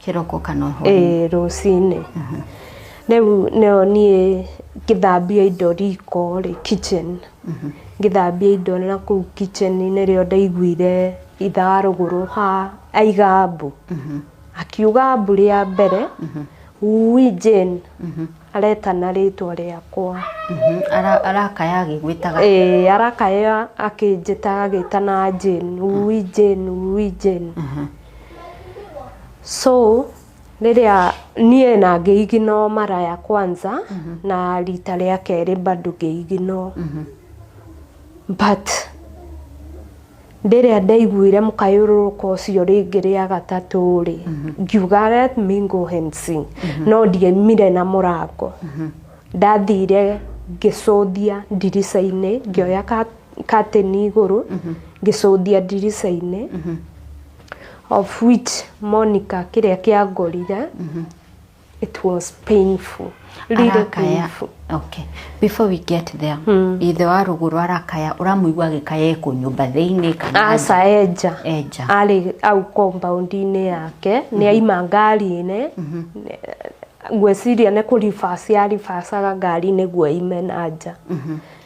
Kĩroko kana hwainĩ? Ĩĩ rũcinĩ. Rĩu nĩyo niĩ ngĩthambia indo riko rĩ, kitchen, ngĩthambia indo na kũu kitchen nĩrĩo ndaiguire ithaa rũgũrũ ha aiga mbu. Akiuga mbu rĩa mbere, wui Jane aretana rĩtwa rĩakwa. Arakaya agĩgwĩtaga? Ĩĩ arakaya akĩnjĩtaga agĩtana Jane, wui Jane, wui Jane. so rĩrĩa niĩ na ngĩiginwo mara ya kwanza na rita rĩa kerĩ bado ngĩiginwo but rĩrĩa ndaiguire mũkayũrũrũko ũcio rĩngĩ rĩa gatatũ rĩ ngiuga let me go and see no ndiaumire na mũrango ndathire ngĩcũthia ndirica-inĩ ngĩoya ka katĩni igũrũ ngĩcũthia ndirica-inĩ of which Monica kĩrĩa kĩangorire it was painful really arakaya painful okay before we get there ithe wa rũgũrũ arakaya ũramũigua agĩkaya ekũ nyũmba thĩinĩ kana aca enja Enja. arĩ au compound-inĩ yake nĩ aima ngari-inĩ ngwĩciria nĩ kũribaci aribacaga ngari nĩguo aime na nja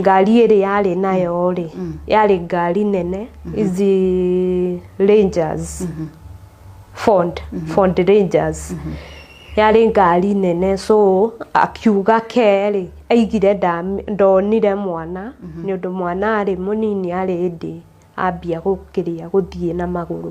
ngari ĩrĩa yarĩ nayo rĩ yarĩ ngari nene izi rangers ford ford rangers yarĩ ngari nene so akiuga kerĩ aigire ndam- ndonire mwana nĩ ũndũ mwana arĩ mũnini arĩ ndĩ ambia gũkĩria gũthiĩ na magũrũ